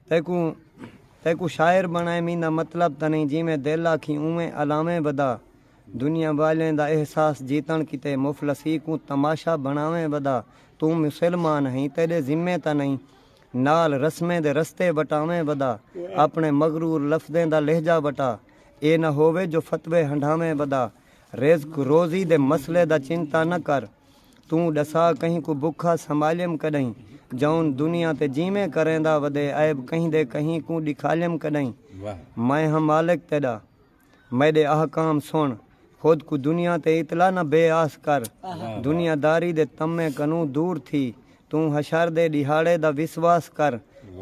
تیکوں تیکوں شاعر بݨائے میندا مطلب تاں نئیں جیویں دل آکھیں اونویں الاویں ودا دنیا والیں دا احساس جیتݨ کیتے مفلسی کوں تماشا بݨاویں ودا توں مسلمان ہئیں تیݙے ذمے تاں نئیں نال رسمیں دے رستے وٹاویں ودا اپݨے مغرور لفظیں دا لہجہ وٹا اے نہ ہووے جو فتوے ہنڈھاویں ودا رزق روزی دے مسئلے دا چنتا نہ کر توں ڈسا کہیں کوں بکھا سنبھالیم کڈہیں جون دنیا تے جیویں کریندا ودے عیب کہیں دے کہیں کوں ڈکھالیم کڈہیں میں ہاں مالک تیڈا میڈے احکام سن خود کوں دنیا تے اتلا نہ بے آس کر دنیا داری دے طمع کنوں دور تھی توں حشر دے ڈیہاڑے دا وسواس کر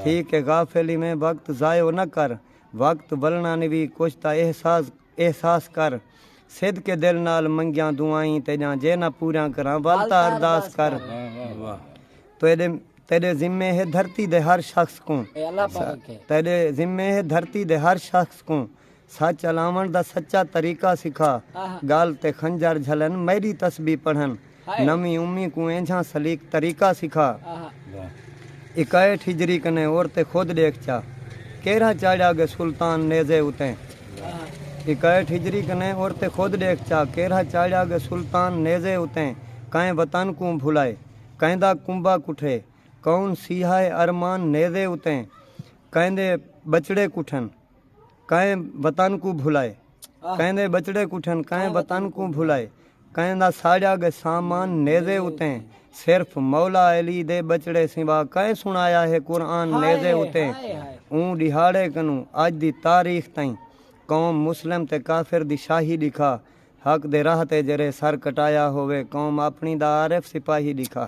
تھی کے غافل ایویں وقت ضائع نہ کر وقت ولنانوی کچھ دا احساس احساس کر۔ صدقے دل نال منگیاں دعائیں تیڈیاں جے نہ پوریاں کراں ول تاں ارداس کر۔ تیڈے تیڈے ذمے ہے دھرتی دے ہر شخص کوں۔ تیڈے ذمے ہے دھرتی دے ہر شخص کوں۔ سچ الاونڑ دا سچا طریقہ سکھا۔ گل تے خنجر جھلن میڈی تسبیح پڑھن۔ نویں امی کوں اینجھاں سلیق طریقہ سکھا اکائیٹھ ہجری کنے اور تے خود ڈیکھ چا کیرھا چاڑھیا گے سلطان نیزے اتیں اکائیٹھ ہجری کنے اور تے خود ڈیکھ چا کیرھا چاڑھیا گے سلطان نیزے اتیں کائیں وطن کوں بھلائے کائندا کنبہ کٹھے کون سیہائے ارمان نیزے اتیں کائندے بچڑے کٹھن۔ کئیں وطن کوں بھلائے کئیں دے ٻچڑے کٹھن کئیں وطن کوں بھلائے کئیں دا ساڑیا گئے سامان نیزے اتیں صرف مولا علی دے ٻچڑے سوا کئیں سنایا ہے قرآن نیزے اتیں اوں ݙیہاڑے کنوں اڄ دی تاریخ تئیں قوم مسلم تے کافر دی شاہی ݙکھا حق دے راہ تے جیرھے سر کٹایا ہووے قوم اپݨی دا عارف سپاہی ݙکھا۔